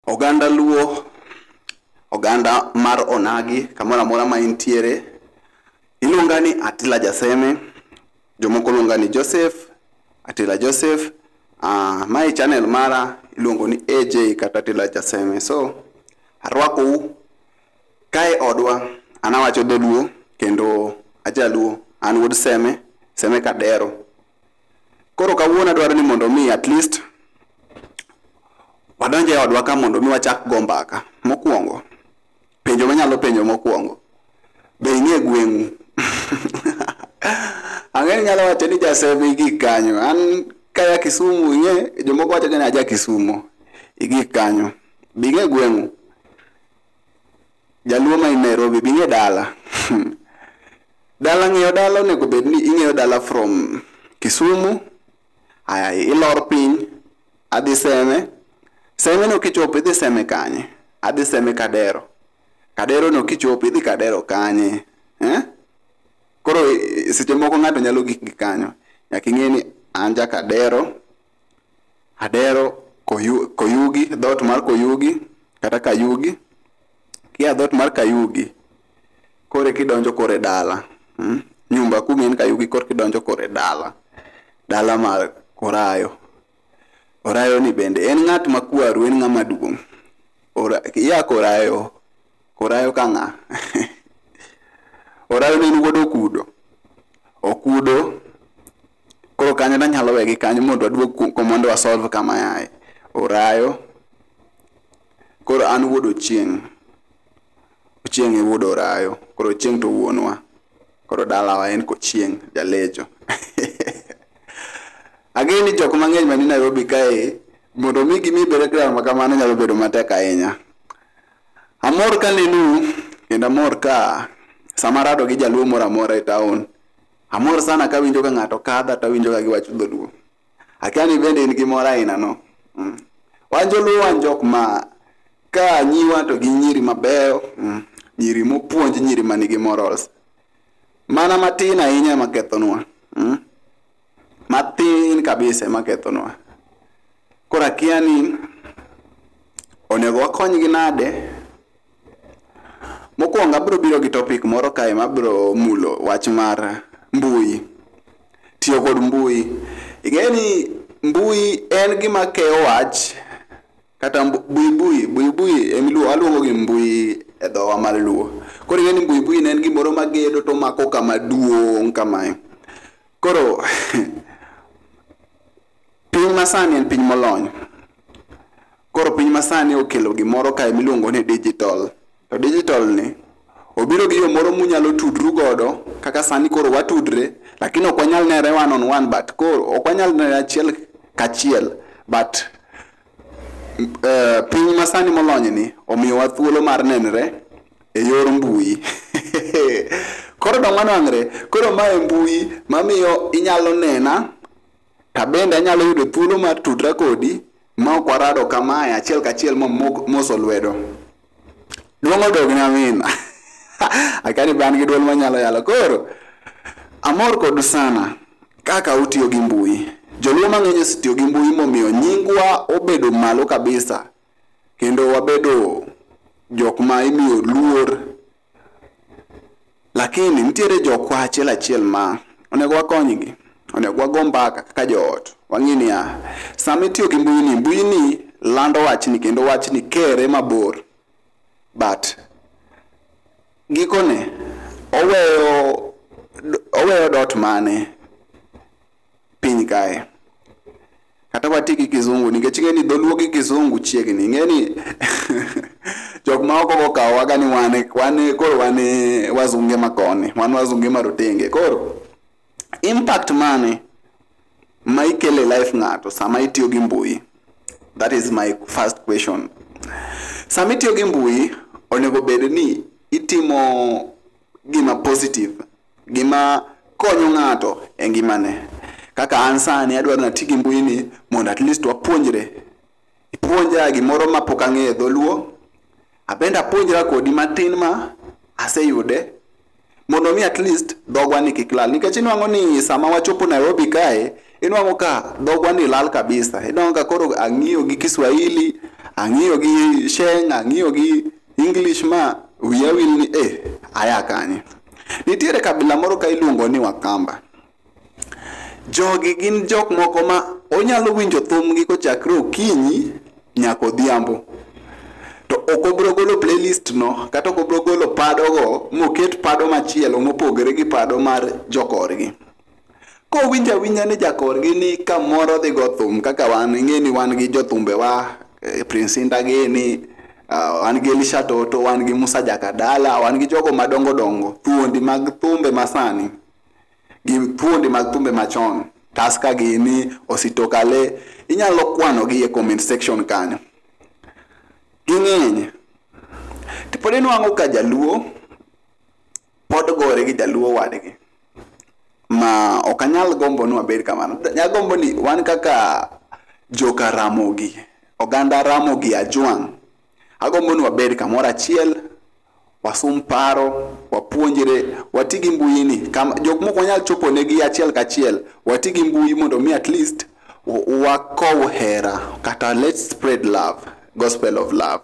Oganda Luo, oganda mar onagi kamoro amora ma intiere, iluonga ni Atila Jaseme, jomoko luonga ni Joseph, Atila Joseph. Uh, mae channel mara iluongo ni AJ kata Atila Jaseme. So, arwakou kae odwa, an awacho dholuo kendo ajaluo, an wuod Seme, Seme Kadero. Koro kawuono adwaro ni mondo mi at least wadonj e odwa ka mondo mi wachak go mbaka. Mokwongo, penjo manyalo penjo mokwongo, be ing'e gweng'u? Ang'e ni nyalo wacho ni Jasebe igik kanyo, an kaya Kisumu ing'e, jomoko wacho ni aja Kisumo, igik kanyo. Be ing'e gweng'u? Jaluo ma in Nairobi bi ng'e dala. Dala ng'eyo dala onego bed ni ing'eyo dala from Kisumu, aya ilor piny, adhi Seme. Seme no kichopo idhi Seme kanye? Adhi Seme Kadero. Kadero no kichopo idhi Kadero kanye? Eh? Koro eh, seche moko ng'ato nyalo gik gi kanyo. Nyaka ing'e ni an ja Kadero, Adero koyu, Koyugi, dhoot mar Koyugi kata Kayugi. Kia dhoot mar Kayugi, kore kidonjo kore dala. Mm? Nyumba kumi en Kayugi kore kidonjo kore dala. Dala mar Korayo. Orayo ni bende en ng'at ma kwaru, en ng'ama duong'. Ora, ya Korayo, Korayo ka ng'a? Orayo ne en wuod Okudo. Okudo Koro kanyo nanyalo wegi kanyo mondo aduog ku- ku- mondo wasolve kama yaye. Orayo. Koro an wuod Ochieng'. Ochieng' e wuod Orayo. Koro Ochieng' to wuonwa. Koro dalawa en Kochieng', Jalejo. Ang'eyo ni jok mang'eny mani Nairobi kae, mondo mi gimi background ma kamano nyalo bedo matek ahinya. Amor ka nenu, kendo amor ka sama arado gi jaluo moro amora e taon. Amor sana kawinjo ka ng'ato kadha to awinjo ka giwacho dholuo. Akia ni bende in gi mor ainano. Mm. Wan joluo wan jok ma ka nyiwa to gi nyiri mabeyo, mm. nyiri mopuonj, nyiri ma nigi morals. Mana matin ahinya ema kethonwa. Mm. Matin kabisa ema kethonwa. Koro akia ni onego wakonygi nade Mokwongo abro biro gi topic moro kae mabro mulo wach mar mbui, tiyo kod mbui. Ing'e ni mbui en gima keyo wach kata buibui, buibui waluongo gi mbui e dhowa mar luo. Koro ing'e ni buibui ne en gimoro magedo tomako kama duong' kamae, koro. Piny masani en piny molony. Koro piny masani okelo gimoro kae miluongo ni digital. To digital ni obiro gi yo moro munyalo tudru godo kaka sani koro watudre lakini ok wanyal nere one on one but koro ok wanyal nere achiel kachiel but uh, piny masani molony ni omiyowa thuolo mar nenre e yor mbui koro dong wanwang're koro mae mbui mamiyo inyalo nena Tabende anyalo yudo thuolo mar tudra kodi ma ok warado kamae achiel kachiel momoso lwedo. Duong' odogni amina. Akani be an gi duol manyalo yalo. Koro, amor kodu sana kaka utiyo gi mbui. Joluo mang'eny osetiyo gi mbui momiyo nyingwa obedo malo kabisa kendo wabedo jok ma imiyo luor Lakini nitiere jokwa achiel achiel ma onego wakonygi, onego wago mbaka kaka joot. Wang'e niya, sama itiyo gi mbuyini, mbuyini lando wachni kendo wachni kere mabor. But gikone, oweyo oweyo dot mane piny kae kata wati gi kizungu nikech ing'e ni dholuo gi kizungu chiegni ing'e ni jok ma oko gokawowaga ni wan wan koro wan wazunge ma koni wan wazunge ma rotenge koro impact mane ma ikele life ng'ato sama itiyo gi mbui that is my first question sama itiyo gi mbui onego bed ni itimo gima positive gima konyo ng'ato e ngimane. Kaka an sani adwaro nati gi mbui ni mondo at least wapuonjre. Ipuonja gimoro ma pok ang'eyo e dholuo, abende apuonjra kodi matin ma aseyude mondo mi at least dhogwa ni kik lal nikech inwang'o ni sama wachopo Nairobi kae inwang'o ka dhogwa ni lal kabisa inwang'o ka koro ang'iyo gi Kiswahili ang'iyo gi Sheng ang'iyo gi English ma wiya wil ni eh, aya kanye. Nitiere kabila moro ka iluongo ni Wakamba. Jogi gin jok moko ma onyalo winjo thumgi kochakre okinyi nyaka odhiambo. To ok obro golo playlist no kata ok obro golo padogo moket pado machielo mopogore gi pado mar jokorgi. kowinjo awinja ni jakorgi ni kamoro dhi go thum kaka wan ing'e ni wan gi jothumbewa eh, prince indagini ah, wan gi elisha toto wan gi musa jakadala wan gi jogo madongo dongo thuondi mag thumbe masani gi thuondi mag thumbe machon taska gini ositokale inyalo kwanogi e comment section kanyo ging'eny tipod inwang'o ka jaluo pod gore gi jaluo wadgi ma ok anyal gombo ni wabed kamano nyalo gombo ni wan kaka joka ramogi oganda ramogi ajwang' agombo ni wabed kamoro achiel wasum paro wapuonjre wati gi mbui ni jok moko wanyal chopo negi achiel kachiel wati gi mbui mondo mi at least wakow hera kata let's spread love gospel of love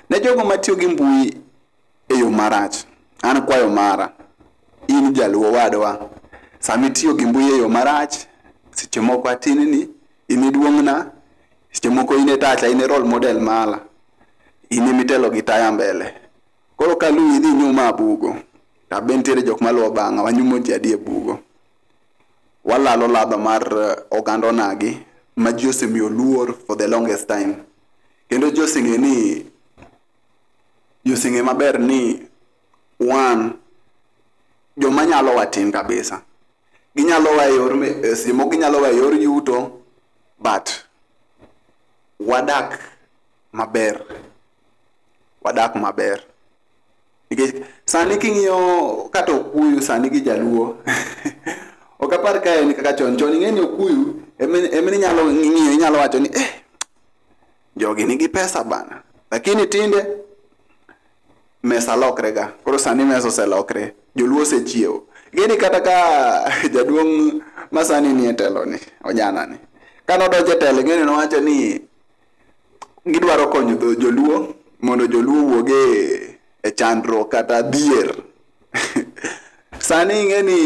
ne jogo matiyo gi mbui e yo marach. An kwayo mara, in jaluo wadwa, sama itiyo gi mbui e yo marach, seche moko atinni, in e duong'na, seche moko in e tacha, in e role model mara, in ema itelo gi taya mbele. Koro ka luwi idhi inyuma a bugo, to be nitiere jok maluwo bang'a, wanyumo ji adi e bugo. Walalo ladha mar eh, oganda onagi ma ji osemiyo luor for the longest time. Kendo ji oseng'e ni josenge maber ni wan joma nyalo watin kabisa ginyalo wa e yor me- e simo ginyalo wa e yor yuto but wadak maber wadak maber nikech sani king'iyo kata okuyu sani gi jaluo ok apar ka en kaka chon chon ing'e ni okuyu ema ema inyalo ng'iyo inyalo wacho ni eh jogi nigi pesa bana lakini tinde mesa lokre ga koro sani mesa oselokre joluo osechiewo gini kata ka jaduong' masani nie telo ni ojana ni kane odonjo e telo gini nowacho ni gidwaro konyo dho- joluo mondo joluo wuog e- e chandruok kata dhier sani ing'e ni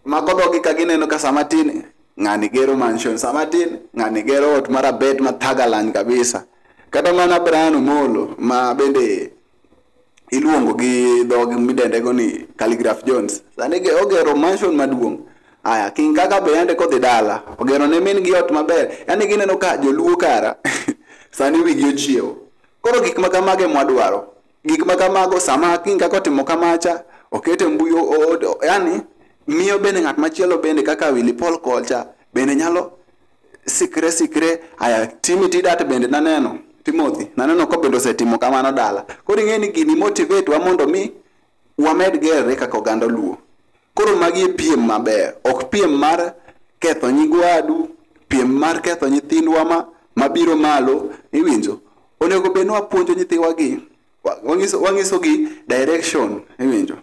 mako dhogi ka gineno ka sama tin ng'ani gero mansion sama tin ng'ani gero ot mar abet ma thagalan kabisa kata mana Brian Omolo ma bende iluongo gi dhogi midendego ni Calligraph Jones sani ogero mansion maduong' aya king kaka be yande kodhi dala ogero ne min gi ot maber yani gineno ka joluo kara sani wigi ochiewo koro gik ma kamage mwadwaro gik ma kamago sama king kaka otimo kamacha okete mbui yani miyo bende ng'at machielo bende kaka Willy Paul kocha bende nyalo sikre sikre aya timi tidat bende naneno Timothy naneno ko bende osetimo kamano dala koro ing'e ni gini motivate wa mondo mi wamed gerre kaka oganda luo koro magi e piem maber ok piem mar ketho nyigwadu piem mar ketho nyithindwa ma mabiro malo iwinjo onego bed ni wapuonjo nyithiwagi wa- wanyiso- wanyisogi direction iwinjo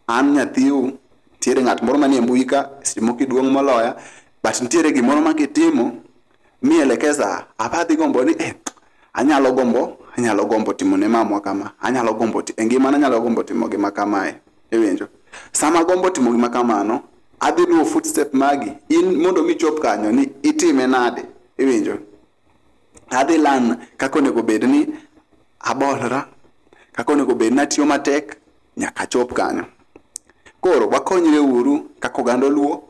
an nyathiu nitiere ng'at moro manie mbui ka seche moko iduong' moloya but nitiere gimoro ma kitimo mielekeza abadhi gombo ni eh, anyalo gombo anyalo gombo timo ne mamwa kama anyalo gombo ti- e ngimana anyalo gombo timo gima kamae iwinjo sama gombo timo gima kamano adhi luwo footstep magi in mondo michop kanyo ni itime nade iwinjo adhi lan kaka onego bed ni abolra kaka onego bed ni atiyo matek nyaka achop kanyo koro wakonyre uru kaka oganda oluo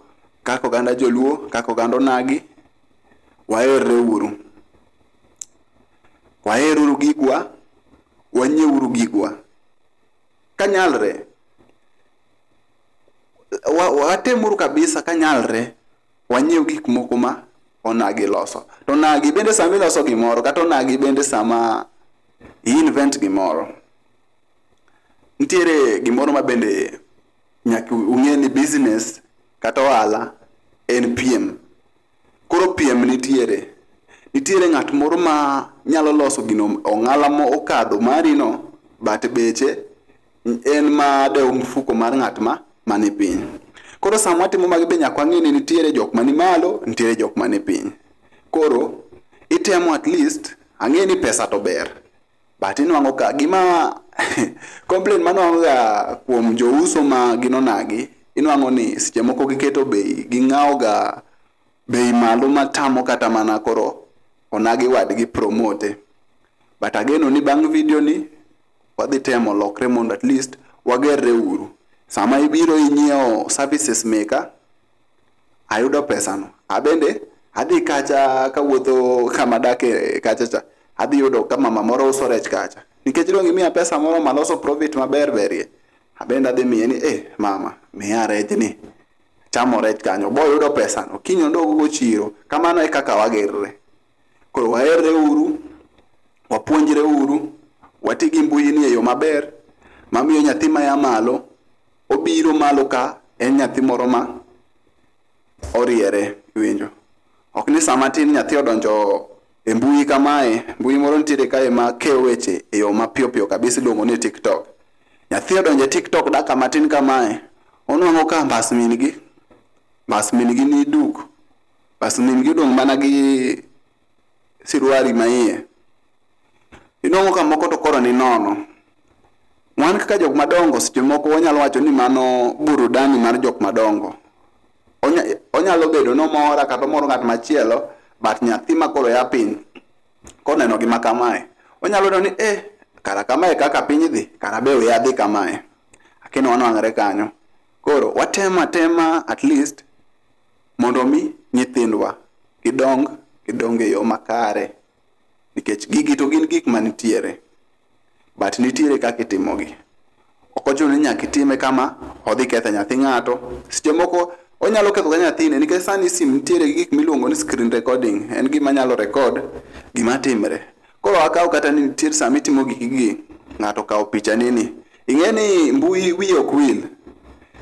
kaka oganda joluo kaka oganda onagi waherre uru waher uru gigwa wanyie uru gigwa kanyalre watem uru kabisa kanyalre wanyiew gik moko ma onagi loso to onagi bende sama iloso gimoro kata onagi bende sama i-invent gimoro nitiere gimoro ma bende nyaka ung'e ni business kata ohala en piem koro piem nitiere nitiere ng'at moro ma nyalo loso gino ong'ala ma okadho marino but beche en ma dewo mfuko mar ng'at ma mani piny koro sama watimo magi be nyaka wang'e ni nitiere jok mani malo nitiere jok mani piny koro itemo at least ang'e ni pesa to ber but inwang'o ka gima complain manwang'o ga kuom jouso ma ginonagi inwang'o ni seche moko giketo bei ging'awo ga bei malo matamo kata mana koro onagi wadgi promote but ageno ni bang' video ni wadhi temo lokre mondo at least wagerre uru sama ibiro inyiewo services meka ayudo pesano abende adhi kacha kawuotho kama dake kacha cha adhi yudo ka mama moro uso rech kacha nikech dong' imiya pesa moro maloso profit maber berie abende adhi miye ni eh mama miya rejni chamo rech kanyo boyudo pesano kiny odog go chiro kamano e kaka wagerre koro waherre uru wapuonjre uru wati gi mbui ni e yo maber mamiyo nyathi maya malo obiro malo ka en nyathi moro ma oriere winjo ok ni sama tin nyathi odonjo e mbui kamae mbui moro nitiere kae ma keyo weche e yo mapiyopiyo kabisa iluongo ni tiktok Nyathi odonje TikTok daka matin kamae. Onwango ka mbas min gi. Mbas min gi ni duk. Mbas min gi odong' mana gi siruari ma iye. Inwango ka moko to koro ni nono. Wan kaka jok madongo seche moko wanyalo wacho ni mano burudani mar jok madongo. Onya, onyalo bedo nomora kata omoro ng'at machielo but nyathi ma koro ya piny koneno gima kamae, onyalo neno ni eh, kara kamae kaka piny dhi, kara be we adhi kamae. Akino wanwang're kanyo. Koro watem atema at least mondo mi nyithindwa gidong gidong e yo makare nikech gigi to gin gik manitiere. but nitiere kaka itimogi ok ochuno ni nyaka itime kama odhi ketho nyathi ng'ato seche moko onyalo ketho ga nyathine nikech sani sim nitiere gi gik miluongo ni screen recording en gima nyalo record gima timre koro akaw kata ni nitiere sama itimo gikigi ng'ato kawo picha nini ing'e ni mbui wiye ok wil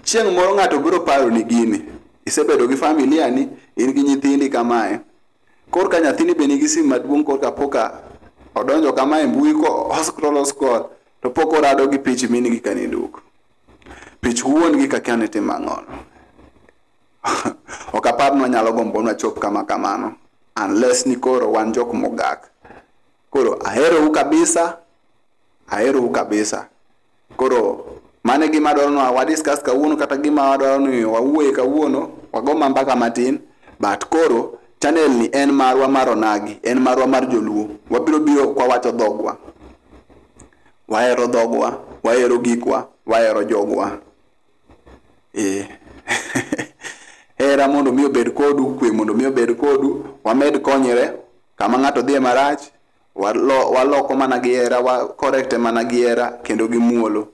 chieng' moro ng'ato biro paro ni gini isebedo gi familia ni in gi nyithindi kamae Korka nyathini be nigi simu maduong' korka poka odonjo kama e mbui ko oscroll oscroll to pok orado gi pich min gi kane duk. Pich wuon gi kaka ne timo ang'ol. ok apar ni wanyalo gombo na chop kama kamano unless ni koro wan jok mogak. Koro aherou kabisa. Aherou kabisa. Koro mano e gima adwaro ni wa discuss kawuono kata gima wadwaro ni wawuoye kawuono, wago ma mbaka matin but koro channel ni en marwa mar onagi, en marwa mar joluo. Wabiro biro kwawacho dhogwa. Wahero dhogwa, wahero gikwa, wahero jogwa. Eh. Hera mondo mi obed kodu, kwe mondo mi obed kodu, wamed konyre kama ng'ato dhiye marach, Walo, waloko mana gi hera wa correct mana gi hera kendo gi muolo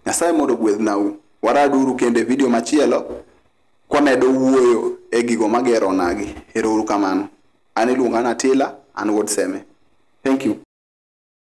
nyasaye mondo gwedhnau waraduru kendo e video machielo kwamedo wuoyo e gigo magero nagi erouru kamano an iluonga natila an wuod seme thank you